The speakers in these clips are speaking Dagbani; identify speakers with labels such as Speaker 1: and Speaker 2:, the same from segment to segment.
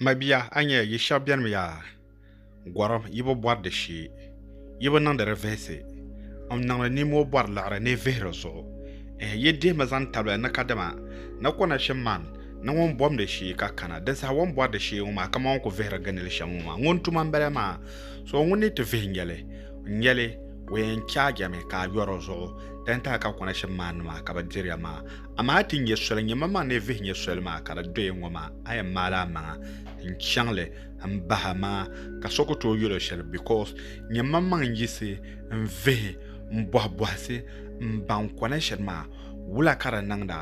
Speaker 1: Mabia, a nya yi shɛba bɛn mi yaa gɔrim, yi bi bɔri di shee, yi bi niŋdi di vihisi. M niŋdi nimoo bɔri liɣiri ni vihiri zuɣu. Ɛɛ, yi dihi mi zaŋ tabili ni kadama ni ko nachim man ni ŋun bom di shee ka kana. Dinsaha wan bɔri di shee ŋɔ maa, kaman ŋun ku vihiri ginili shɛm ŋɔ maa. Ŋun tuma m-bala maa, so ŋun ni ti vihi nyɛli. N yɛli, O yɛn chaajɛmi ka a yɔri o zuɣu. Dantali ka konachim maanima ka bɛ diriya maa. Amaa ti nyɛ soli nyɛmamaŋ ni vihi nyɛ soli maa ka di doya ŋɔ maa, a yɛn maali a maŋa n-chaŋ li m-bahi a maŋa ka so ku tooi yɛl o shɛli because nyɛmamaŋ n-yiɣisi n-vihi m-bɔhi bɔhisi m-baŋ kɔna shɛli maa wula ka di niŋda,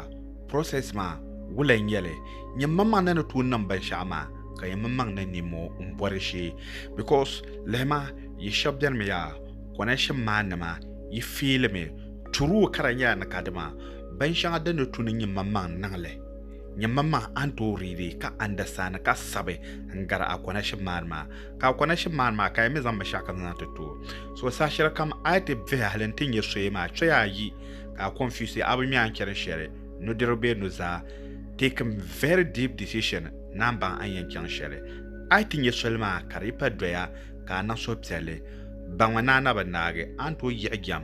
Speaker 1: process maa wula n-nyɛ li. Nyɛmamaŋ ni ni tooi niŋ binshɛɣu maa ka nyɛmamaŋ niŋ nimmoo m-bɔri shee because lihima yi shɛba benimi yaa kɔnashim maa nima yi feeli mi Turuo kara nyɛla ni ka dima bin shɛŋa din ni tu ni nyimmaŋmaŋ niŋ li. Nyimmaŋmaŋ a ni tooi riidi ka andasani ka sabi n gari a konashib maani maa. Ka a konashib maani maa ka yi mi zaŋ binshɛɣu kam zaŋ ti tooi. So saha shɛli kam a yi ti vihi hali n ti nyɛ soya maa choya ayi ka a confuse a bi ŋmɛ a ni chani shɛli nudirigu bee nuzaa taking very deep decision ni a ni baŋ a ni yɛn chaŋ shɛli. A yi ti nyɛ soli maa ka di yi pa doya ka a niŋ suhupiɛlli baŋmi ni a na bi naagi a ni tooi yiɣi jɛm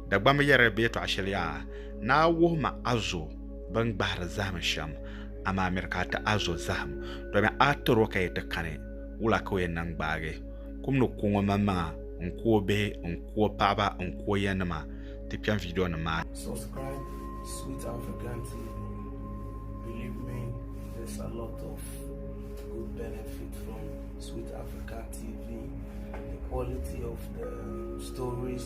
Speaker 1: Dagbamba yɛri bɛ yɛtɔɣ shɛli yaa, Naa wuhi ma a zo bɛn gbahiri zahim shɛm, amaa miri ka a ti a zo zahim, domi a tir o ka yi ti kani, wula ka o yɛn niŋ gbaagi? Kum ni ku ŋɔ manmaŋa n-ku o bihi n-ku o paɣiba n-ku o yanima, ti kpɛm vidiyonim maa ni. Subscribe
Speaker 2: Sweet African TV, believe me there's a lot of good benefit from Sweet African TV, the quality of the stories.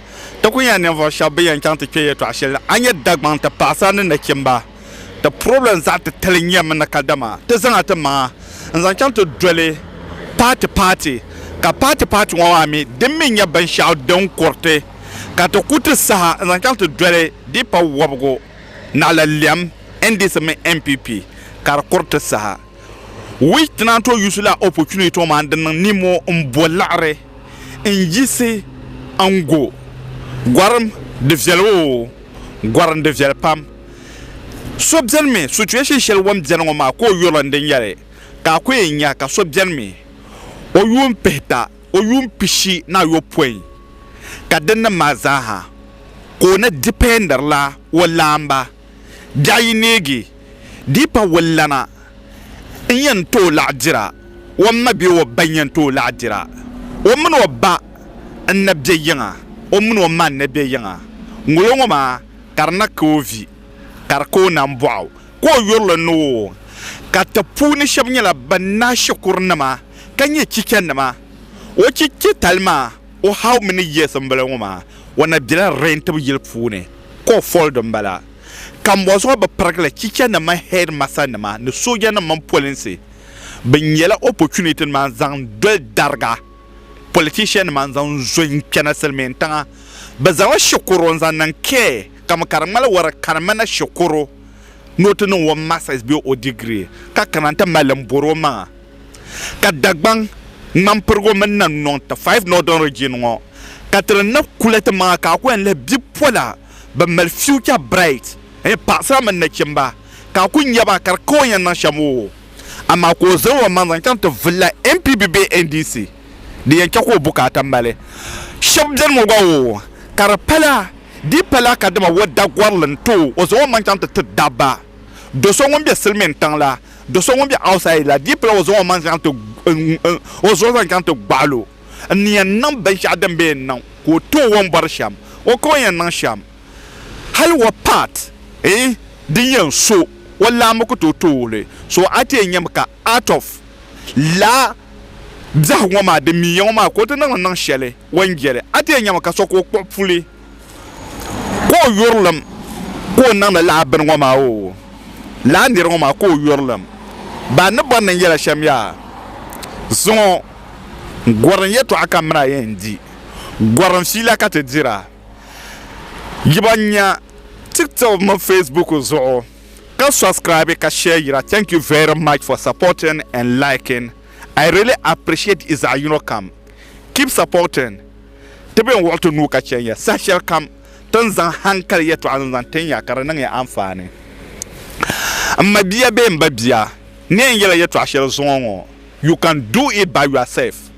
Speaker 1: Ti ku nya ninvuɣ shɛb bɛ yɛn chaŋ ti kpe yɛtɔɣ shɛli ni, a nya Dagbaŋ ti paɣisara ni nachimba. Ti problem zaɣ titali nyɛmi ni kadama ti zaŋ a ti maŋa n-zaŋ chaŋ ti doli paati paati, ka paati paati ŋɔ maa mi din mi nyɛ binshɛɣu din kuriti ka ti ku ti saha n-zaŋ chaŋ ti doli di pa wɔbigu naɣila lɛm, NDC mini NPP, ka di kuri ti saha. which tonight to use la opportunity to man din niŋ nimo n bo laɣari n yiɣisi n go gorim di viɛli oo gorim di viɛli pam so bɛni mi situation shɛli wan bɛni ŋɔ maa ka o yuri n din yɛli ka a ku yɛn nya ka so bɛni mi o yuun pihita o yuun pishi ni ayopɔin ka din niŋ maa zaaha ka o ni dependiri la o laamba Biɛɣu yi neegi di pa o lana, n yɛn tooi laɣ dira, o ma bee o ba n-yɛn tooi laɣ dira. O mini o ba n-na be yiŋa, o mini o ma n-na be yiŋa. Ŋolo ŋɔ maa ka di na ka o vi, ka di ka o nambɔɣu, ka o yurili ni o wuŋ ka ti puuni shɛba nyɛla ban naai shikurinima ka nyɛ chichanima. O chichatali maa O hau mini yiɣisimbila ŋɔ maa, o na bela Rentib yili puuni ka o foli di m-bala. Kambɔzuɣu bɛ pirigili chichanim mini hɛdimasanima ni soojanim mini polinsi bɛn nyɛla opportunity nima n-zaŋ doli dariga politiciannima n-zaŋ zo n-chana Silimiintiŋa. Bɛ zaŋla Shekoro n-zaŋ niŋ care kami ka di ŋmani wara ka di mi na Shekoro ni o ti niŋ o masters bee o degree ka kana nti mali li m-bɔri o maŋa. ka Dagbaŋ, Ŋmanpirigu mini Nannɔŋ ti Five Northern Region ŋɔ ka ti di ni kuli ti maŋa ka a ku yɛn lihi bipola bɛn mali future bright n-nyɛ
Speaker 3: paɣisara mini nachimba ka a ku nya ba ka di ka o ni yɛn niŋ shɛm oo amaa ka o zaŋ o maŋ zaŋ chaŋ ti vulila NPB bee NDC din yɛn chɛ ka o bukaata mali shɛb beni ŋɔ gba oo ka di pala di pala ka dama o dagɔrili n-tooi o zaŋ o maŋ chaŋ ti ti dabba do so ŋun be silimintiŋ la Do so ŋun be outside la dii pala o zaŋ o maŋ zaŋ ti o zuɣu zaŋ chaŋ ti gbaɣil o. N ni yɛn niŋ binshɛɣu din be n niŋ ka o tooi o ni bɔri shɛm o ka o yɛn niŋ shɛm. Hali what part eh din yɛn so o laa mi ku tooi tooi li. So a ti yɛn nyami ka out of laa biɛhigu ŋɔ maa din mi ya ŋɔ maa ka o ti niŋli niŋ shɛli o ni jeli a ti yɛn nyami ka so ka o kpuɣi puli. ka o yurilim ka o niŋdi laa bini ŋɔ maa oo laa niri ŋɔ maa ka o yurilim baa ni bɔri ni n yɛla shɛm yaa zuŋɔ gɔrim yɛtɔɣa ka mini a yɛn di gɔrim fiila ka ti dira yi ba nya tiktok mini facebook zuɣu ka subscribe ka share yira thank you very much for supporting and liking i really appreciate yi zaɣ yino kam keep supporting Ti bɛn wuɣi ti nuu ka chɛn ya saha shɛli kam, ti ni zaŋ haŋkali yɛtɔɣa ni zaŋ tin ya ka di niŋ ya anfaani. M mabia bee m babia, n ni yɛn yɛla yɛtɔɣa shɛli zuŋɔ ŋɔ, You can do it by yourself.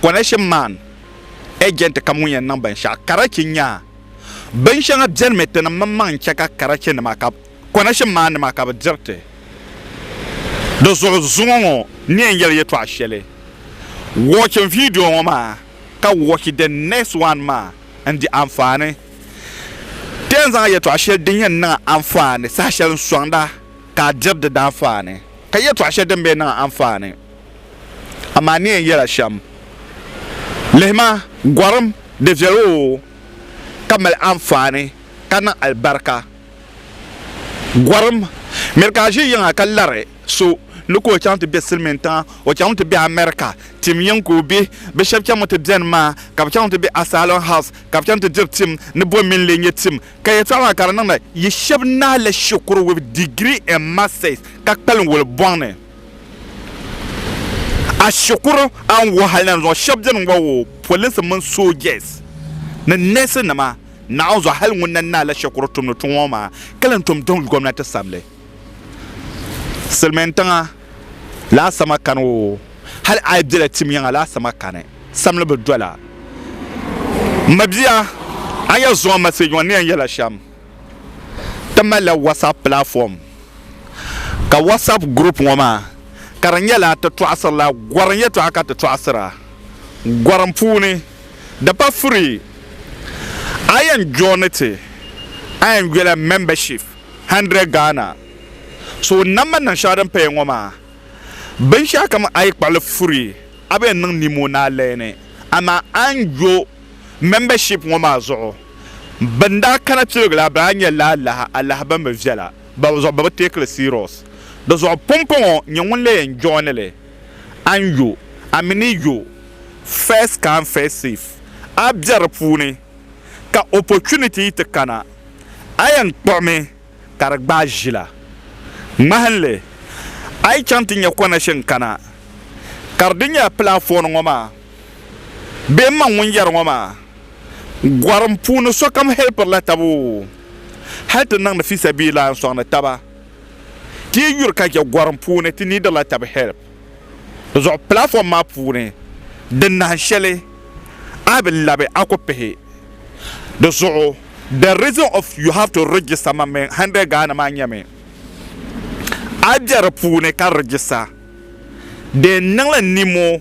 Speaker 3: Connection man, Agent kam ŋun yɛn niŋ binshɛɣu karachi nya binshɛŋa bɛnimi ti ni mini maŋ n-chɛ ka karachi nima ka connection man nima ka bɛ diri ti. Di zuɣu zuŋɔ ŋɔ, n ni yɛn yɛli yɛtɔɣa shɛli. Watch n video ŋɔ maa. ka watch the next one maa n-di anfaani. Ti yɛn zaŋ yɛtɔɣ shɛli din yɛn niŋ anfaani saha shɛli n-sɔŋda ka a diri di daanfaani, ka yɛtɔɣ shɛli din be niŋ anfaani amaa ni yɛn yɛla shɛm. Lihi ma, gɔrim, di viɛl oo, ka mali anfaani ka niŋ alibarika. Gɔrim miri ka a ʒi yiŋa ka lari so ni ka o chaŋ ti be silimiintiŋa, o chaŋmi ti be America. Tim yiŋ ka o be. Bɛ shɛba chaŋmi ti beni maa ka bɛ chaŋmi ti be Asylum House ka bɛ chaŋ ti diri tim ni bom mini lee nyɛ tim. Ka yɛtɔɣa maa ka di niŋdi yi shɛba naai la shikuru with degree and masters ka kpalim wuli bɔŋ ni a shikuru a ni wuhi hali na zuŋɔ shɛba beni n-ŋɔ o, polinsi mini soojas ni nɛɛsinima. Naɣinzɔ hali ŋun na naai la shɛkuru tumdi tuŋ ŋɔ maa ka lan tom diŋ gomnati sabili silimiin tiŋa laa samakani o hali a yi bela tim yiŋa laa samakani samli bi dola m ma bia a ni yɛn zuŋ a message ŋɔ ni yɛn yɛla shɛm ti mali la WhatsApp platform ka WhatsApp group ŋɔ maa ka di nyɛla ti tɔɣisiri la gɔrim yɛtɔɣa ka ti tɔɣisira gɔrim puuni. Di pa furi, a yɛn joini ti Anguilla Membership, 100 Ghana. So o nam ma niŋ shɛŋa din paya ŋɔ maa, binshɛɣu kam a yi kpaɣili furi, a bi yɛn niŋ nimo ni a leeni. Amaa a ni jo Membership ŋɔ maa zuɣu, bɛn daa kana piligila a bɛn a nya laalahi alahi bɛn bi viɛla, bɔbizuɣu bɛ bi teekili serious. Di zuɣu pumpɔŋɔ, nyɛ ŋun lee yɛn joini li. a ni yo a mi ni yo first come first serve a bɛ di puuni ka opportunity yi ti kana a yɛn kpuɣimi ka di gbaai ʒila ŋmahinli a yi chaŋ ti nyɛ connection kana ka di di nyɛla platform ŋɔ maa bee m ma ŋun yɛri ŋɔ maa gɔrim puuni sokam helpirila taba o hali ti niŋdi fisabiillahi n sɔŋdi taba Ti yi yuri ka chɛ gɔrim puuni ti niidila tab help zuɣu platform maa puuni di nahin shɛli a bi labi a ku pihi di zuɣu the reason of you have to register man min hundred Ghana maa nyɛmi a bɛ di puuni ka register deen niŋli nimo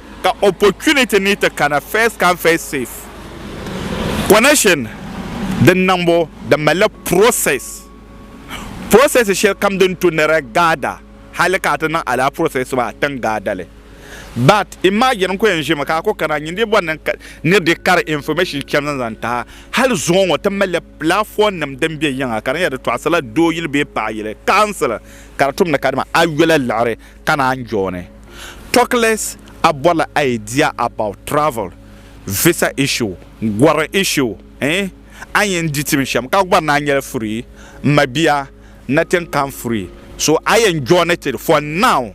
Speaker 3: ka opportunity ni ti kana first come first safe connection din niŋbu di malila process process shɛli kam din tu nira gaada hali ka a ti niŋ alaa process maa a tin gaadali but imagine n ku yɛn ʒimi ka a ku kana n nyini bɔri ni ni di kari information chɛm zaŋ zaŋ taha hali zuŋɔ ŋɔ ti malila platform nim din bɛ yiŋa ka di nyɛla di tɔɣisila dooyili bee paɣayili council ka di tumdi kadama ayola liɣiri ka naan jooni Talkless a bɔrila idea about travel, visa issue, gɔri issue eh a yen di tim shem ka gɔri naan nyɛla free m ma bia nothing come free so a yen jooni ti for now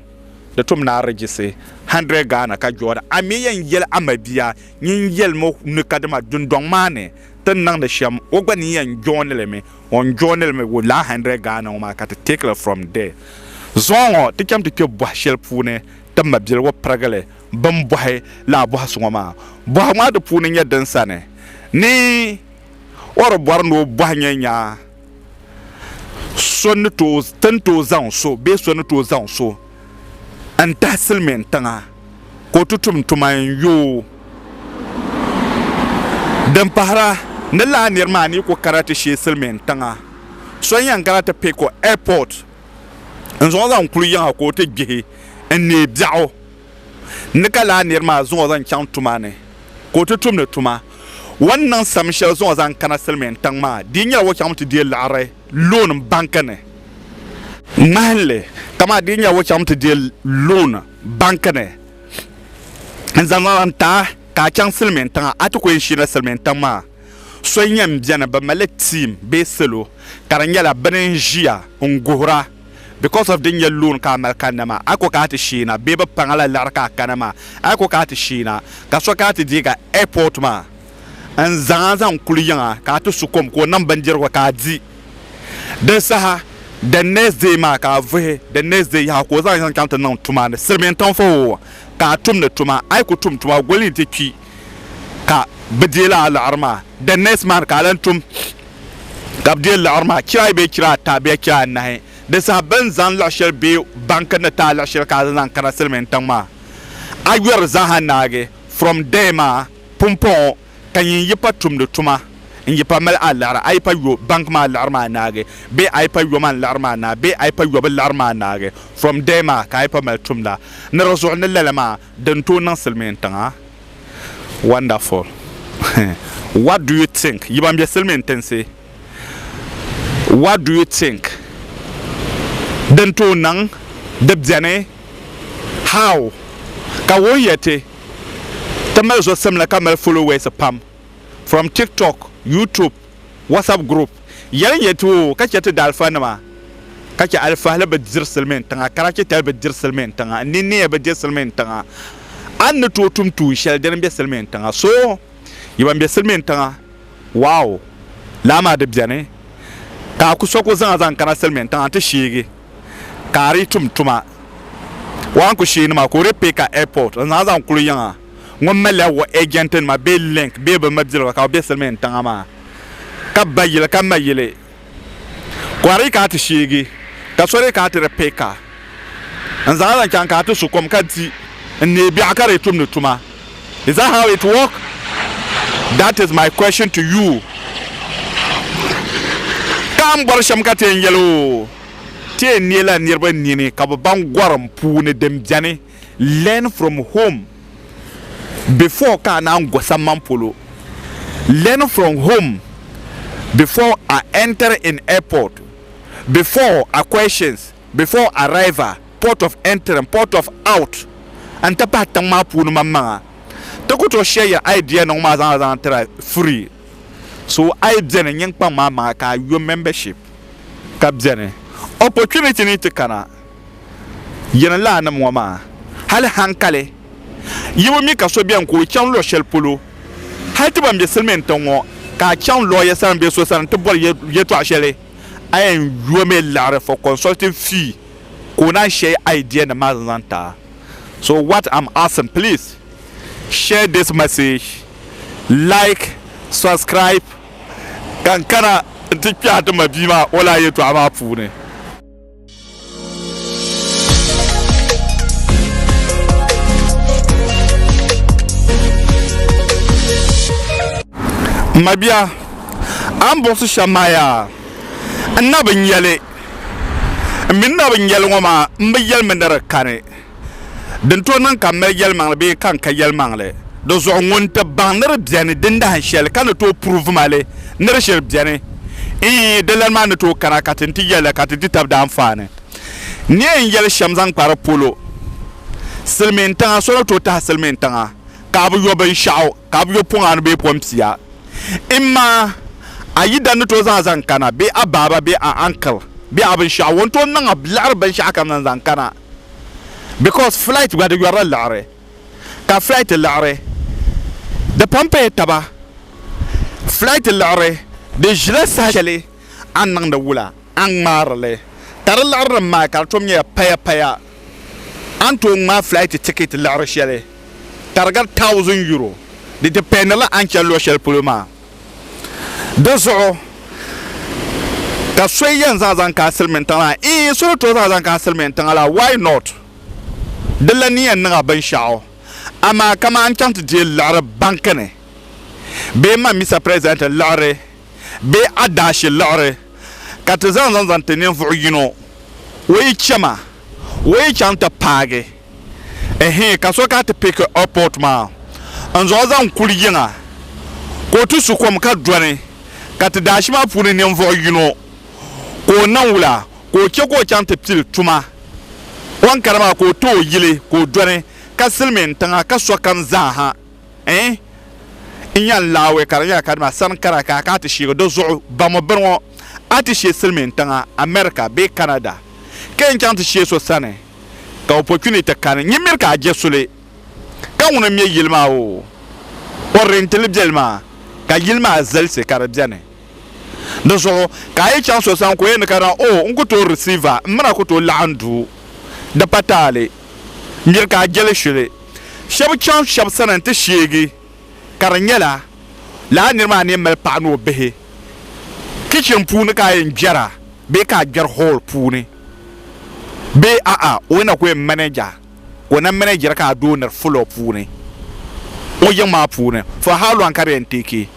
Speaker 3: di tum ni a register 100 Ghana ka jooni a mi yen yeli a ma bia nyin yelimi ni kadama dundɔŋ maa ni ti niŋdi shem o gba ni yen jooni li mi ŋɔ n joinili mi with laa hundred Ghana ŋɔ maa ka ti take li from there. Zuŋɔ ŋɔ ti chaŋ ti kpe bohi sheli puuni ti mabiligu pirigili bini bohi laa bohisi ŋɔ maa. Bohigu maa di puuni nyɛ din sani ni o di bɔri ni o bohi nyɛ nya so ni tooi ti ni tooi zaŋ so bee so ni tooi zaŋ so. n tahi silimiin tiŋa ka o ti tum tuma n yoo din pahira ni lala niri maa ni yi ku kana ti shee silimiin tiŋa so n yɛn kana ti pɛ ka o ɛpɔt n zaŋ o zaŋ kuli yiŋa ka o ti gbihi n neei biɛɣu ni ka lala niri maa zaŋ o zaŋ chaŋ tuma ni ka o ti tumdi tuma o ni niŋ sam shɛli zaŋ o zaŋ kana silimiin tiŋ maa di yi nyɛla o chaŋmi ti deei liɣiri loon banki ni ŋmahinli kamani di ni nyɛ o chaŋ ti deei loon banki ni n zaŋ zaŋ ti a ka a chaŋ silmiin tiŋa a ti ku yɛn sheena silmiin tiŋ maa so n yɛn biɛni bi malila tiim bee salo ka di nyɛla bi ni n ʒiya n guhura bikos of di ni nyɛ loon ka a mali kanna maa a ku kana ti sheena bee bi paŋ a la liɣiri ka a kana maa a ku kana ti sheena ka so kana ti deeg a ɛɛpot maa n zaŋ a zaŋ kuli yiŋ a ka a ti su kom ka o niŋ bindirigu ka a di. Di saha the next day maa ka a vuhi the next day yaha ka o zaŋ yiŋ chaŋ ti niŋ tuma ni silimiin tiŋfɔwo ka a tumdi tuma. A yi ku tum tuma goli nti kpi ka bɛ deei la a liɣiri maa. The next month ka a lan tum ka bɛ deei liɣiri maa chira ayi bee chira ata bee chira anahi. Di saha bɛ ni zaŋ liɣi shɛli bee banki ni ti a liɣi shɛli ka a zaŋ zaŋ kana silimiin tiŋ maa a yɔri zaa ha naagi. From there maa. Pumpɔŋɔ ka nyin yi pa tumdi tuma n-yi pa mali a liɣiri a yi pa yo bank maa liɣiri maa naagi bee a yi pa yoman liɣiri maa naagi bee a yi pa yobu liɣiri maa naagi from there maa ka a yi pa mali tumda ni di zuɣu ni lala maa di ni tooi niŋ silimiin tiŋa wonderful what do you think yi ban be silimiin tinsi what do you think din tooi niŋ di beni how ka wuhi ya ti ti mali zosim la ka mali followers pam from tiktok youtube whatsapp group yɛli n yɛli ti o ka chɛ ti daalifa nima ka chɛ alifahili bi diri silimiin tiŋa karachi tali bi diri silimiin tiŋa n ni neei bi diri silimiin tiŋa a ni tooi tum tuun shɛli dini n be silimiin tiŋa so yi ban be silimiin tiŋa Waɔ! Laa maa di beni ka a ku so ka o zaŋ a zaŋ kana silimiin tiŋa nti sheegi ka a di tum tuma. Waɔ n ku sheei ni maa ka o di pay ka airport n zaŋ zaŋ kuli yiŋ a ŋun malila waɔ agent nima bee link bee bɛ mabiliga ka bɛ be silimiin tiŋa maa ka ba yili ka ma yili. Kɔhiri ka a ti sheegi, ka soli ka a ti di peka, n zaŋ a zaŋ chaŋ ka a ti su kom ka di n neei biɛɣu ka di tumdi tuma. Is that how it work? That is my question to you. Ka m bɔri shɛm ka ti yɛn yɛli o, Ti yɛn neei la niriba nini ka bɛ baŋ gɔrim puuni din beni. Learn from home before ka a naan go samman polo Learn from home before I enter in airport Before are questions Before arrival Port of entering Port of out n ti pahi tiŋ maa puuni maŋmaŋa Ti ku tooi share your idea niŋ maa zaŋla zaŋ tira free So a yi beni nyin kpaŋ maa maŋa ka a yo membership ka beni Opportunity ni ti kana jirinlaanim ŋɔ maa, hali haŋkali yi bi mi ka so beni ka o chaŋ luɣ shɛli polo, hali ti ban be silimiin tiŋ ŋɔ, ka a chaŋ lɔya sani bee so sani nti bɔri yɛtɔɣ shɛli, a yɛn yomi liɣiri for consulting fee ka o naan shɛi idea-nim maa zaŋ ti a. So what am asking, please share this message, like, subscribe, ka n kana nti kpɛhi ti mabia maa o lala yɛtɔɣ maa puuni. M ma bia, a ni buɣisi shɛm maa yaa, n na bi nya li, m mi ni na bi nya li ŋɔ maa, m bi yɛlimi ni di kani. Din tooi niŋ ka n mali yɛlimaŋli bee ka n ka yɛlimaŋli di zuɣu, ŋun ti baŋ ni di beni din dahin shɛli ka ni tooi pruvi ma li ni di shiri beni, ii, di lani maa ni tooi kana ka ti ni ti yɛli la ka ti di tab daanfaani. Ni yɛn yɛli shɛm zaŋ kpa di polo, silimiin tiŋa, so ni tooi tahi silimiin tiŋa ka a bi yo binshɛɣu, ka a bi yo pɔŋ anu bee pɔŋ pia, imma a yidan ni tooi zaŋ a zaŋ kana bee a baaba bee a uncle bee a binshɛɣu ŋun tooi niŋ a liɣiri binshɛɣu kam zaŋ zaŋ kana. because flight gba di yɔrila liɣiri ka flight liɣiri di pam paya taba flight liɣiri di ʒila saha shɛli a ni niŋdi wula a ni ŋmaarili ka di liɣiri din maa ka di tom nyɛla paya paya a ni tooi ŋmaai flight ticket liɣiri shɛli ka di gari thousand euro di dependila a ni chani luɣi shɛli polo maa Di zuɣu ka so yɛn zaŋ zaŋ kana silimiin tiŋa la? Ii, so ni tooi zaŋ zaŋ kana silimiin tiŋa la, why not? Di lan ni yɛn niŋ a binshɛɣu, amaa kaman n chaŋ ti deei liɣiri banki ni bee m ma Mister President liɣiri bee adaashi liɣiri ka ti zaŋ zaŋ zaŋ ti ninvuɣ yino, o yi chɛ ma, o yi chaŋ ti paagi. Ɛhɛɛ ka so ka ti pick airport maa n zuɣu zaŋ kuli yiŋa ka o ti su kom ka dɔni ka ti daashi maa puuni ninvuɣu yino ka o niŋ wula ka o che ka o chaŋ ti pili tuma o ni kana maa ka o ti o yili ka o dɔni ka silimiin tiŋa ka sokam zaaha ɛɛh n yan laawɛ ka di nyɛla ka dima sani kana ka ka ti sheegi di zuɣu bamu bini ŋɔ a ti she silimiin tiŋa America bee Canada ka yan chaŋ ti she so sani. ka opportunity kani nyin miri ka a je suli ka ŋuni m-me yili maa o o rentili beli maa ka yili maa zalisi ka di beni di zuɣu ka a yi chaŋ so sani ka o yɛn ni ka na o n ku tooi receive a m mini a ku tooi laɣim duu di pa taali miri ka a jeli shuli shɛba chaŋ shɛba sani nti sheegi ka di nyɛla lala niri maa ni mali paɣa ni o bihi kichin puuni ka a yɛn gbɛra bee ka a gbɛri hool puuni bee a'a o ni na ku yɛn manɛja ka o na manɛjira ka a doo niri fuloo puuni o yiŋ maa puuni for how long ka di yɛn teeki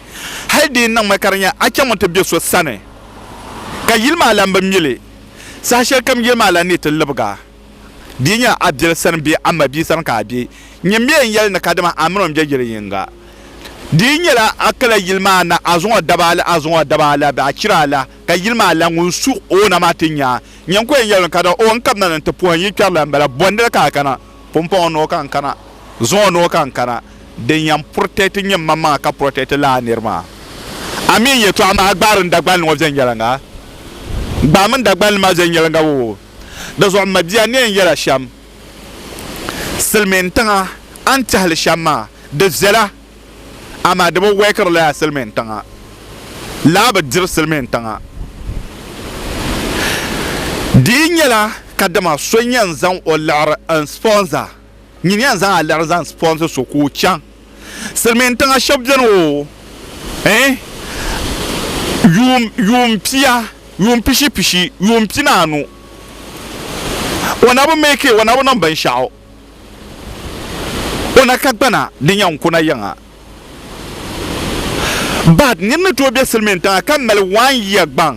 Speaker 3: hali di yɛn niŋmi ka di nyɛ a chaŋmi ti bɛ so sani ka yili maa lan bi mi li saha shɛli kam yili maa lan neei ti libiga Di nya Abdel sani bee Amma bia sani ka a be. Nyini mi n yɛli ni kadama a mini o m-be yili yiŋga. Di yi nyɛla a kala yili maa na a zuŋɔ daba ala a zuŋɔ daba ala bɛ a chira ala ka yili maa la ŋun su o na maa ti nya a. Nyini ko yɛn yɛli o ni kadama o n kabina ni n ti puhi n yi kpɛri la m-bala. Bɔndili ka a kana? Pumpɔŋɔ noo ka n kana. Zuŋɔ noo ka n kana. Din yɛn purotɛti nyini man maŋa ka purotɛti lala niri maa. A mi n yɛtɔɣa maa gbaari n Dagbani ŋɔ viɛnyɛliŋga? Gbaami n Dagbani maa viɛnyɛliŋga woo. Di zuɣu m mabia neen yɛla shɛm silimiin tiŋa a ni tɛhili shɛm maa di viɛla amaa di bi wɛkiri lala silimiin tiŋa laa bi diri silimiin tiŋa di yi nyɛla kadama so n yɛn zaŋ o liɣiri n sponsor nyiniya n zaŋ a liɣiri zaŋ sponsor so ka o chaŋ silmiin tiŋa shɛba beni o eh yuum yuum pia yuum pishi pishi yuum pinaanu o na bi make it o na bi niŋ binshɛɣu o na ka gbana din yɛn kuna yiŋa but niri ni tooi be silmiin tiŋa ka mali one year gbaŋ